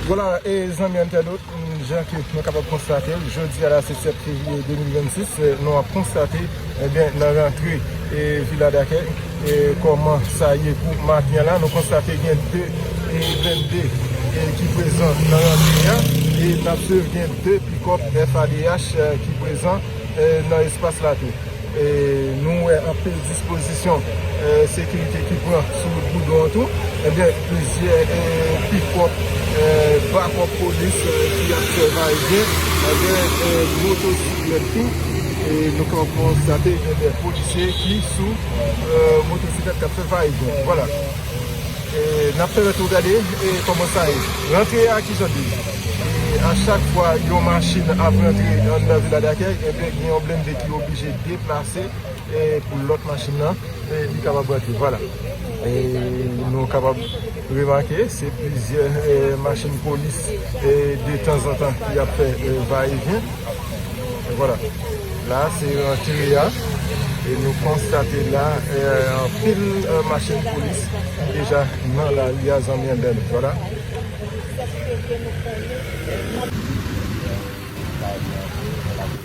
Vwala e zanmi entènot, jan ke nou kapab konstate, jodi a la se 7 fevriye 2026, nou ap konstate ebyen nan rantre e viladakè e kòman sa ye pou maten la, nou konstate gen 2 e blende e ki prezan nan rantre a e n ap suiv gen 2 pikòp FADH ki prezan e nan espas la tou. Nou wè anpil dispozisyon sekirite ki pran sou wout goudron an tou. Ebyen plizyè pikòp, twa kòp polis ki ap fè va e vyen. Gen motosiklèt tou. Nou ka konstate gen de polisye ki sou motosiklèt k ap fè va e vyen. Vwala. N ap pèmèt ou gade kòman sa ye. Rantre a kijan li ye. A chak fwa yon machin ap rantre anndan Vila Dakèy, ebyen gen yon blennde. Yo oblije deplase pou lòt machin nan li kapab rantre. Vwala. Nou kapab remake se plizyè machin polis de tanzantan ki ap fè va e vyen. Vwala. La se rantre a. E nou konstate la anpil machin polis ki deja nan la ri a zanmi anbè nou. Vwala.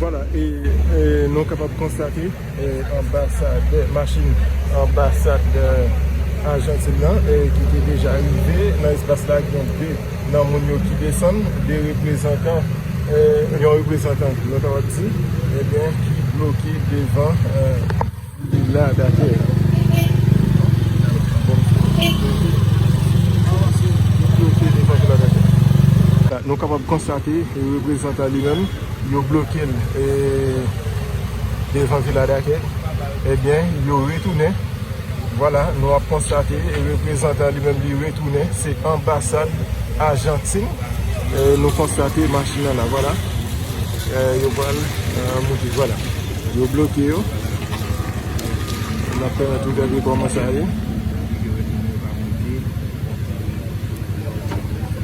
Vwala e nou kapab konstate anbasadè, machin anbasadè Ajantin nan ki te deja rive nan espas la gen 2. Nan moun yo ki desann, de reprezantan, yon reprezantan nou ta wap di, ebyen ki bloke devan vila dakèy la. Nou kapab konstate reprezantan li menm yo bloke l devan vila dakèy, ebyen yo retounen. Vwala, nou ap konstate reprezantan li menm li retounen, se anbasad Ajantin, nou konstate machin nan la, vwala, yo pral moute, vwala, yo bloke yo, nap pèmèt ou gade kòman sa ye.